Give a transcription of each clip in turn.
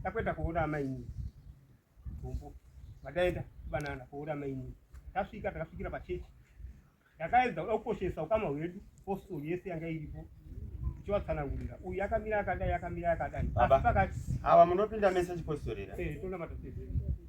takuenda koona amainini gumbo vataenda kubanana koona amainini tasvika takasvikira pachechi yakaedza kuda kukoshesa ukama hwedu posto yese yanga iripo tichivatsanangurira uyu akamira akadai akamira akadai asi pakati ava munopinda mese chipostorera eh, tonamata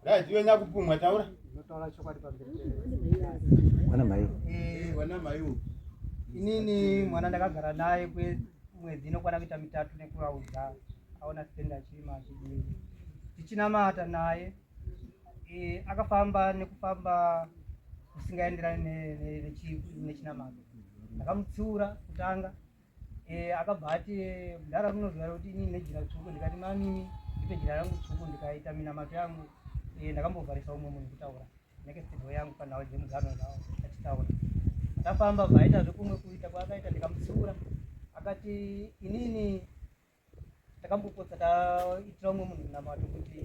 Guys, iwe nyakupumwa taura. Unotaura chokwadi pamberi. Wana mai. Eh, wana mai. Inini mwana ndakagara naye kwe mwedzi inokwana kuita mitatu nekuraudza aona sitenda chima chidii. Tichinamata naye eh akafamba nekufamba kusingaenderani nechinamato. Ndakamutsiura kutanga Eh, akabva ati mudhara munozivara kuti inini nejira tsvuku ndikati mamimi ndipe jira rangu tsvuku ndikaita minamato yangu eh, ndakambovharisa umwe munhu kutaura nekestivo yangu panhau dzemugano zao achitaura akafamba bvaita zvekumwe kuita kwaakaita ndikamutsiura akati inini takambopotsa taitira umwe munhu munamato kuti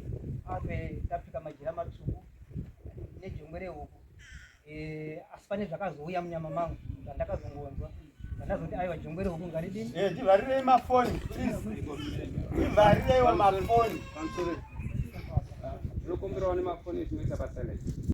afe tapfeka majira matsvuku nejongwe rehuku eh, asi pane zvakazouya munyama mangu zvandakazongonzwa ndakazoti aiwa jongwe rehuku ngaridini eh, ndivarirei mafoni ndivarireiwo mafoni zvinokomberawo nemafoni zvinoita patalent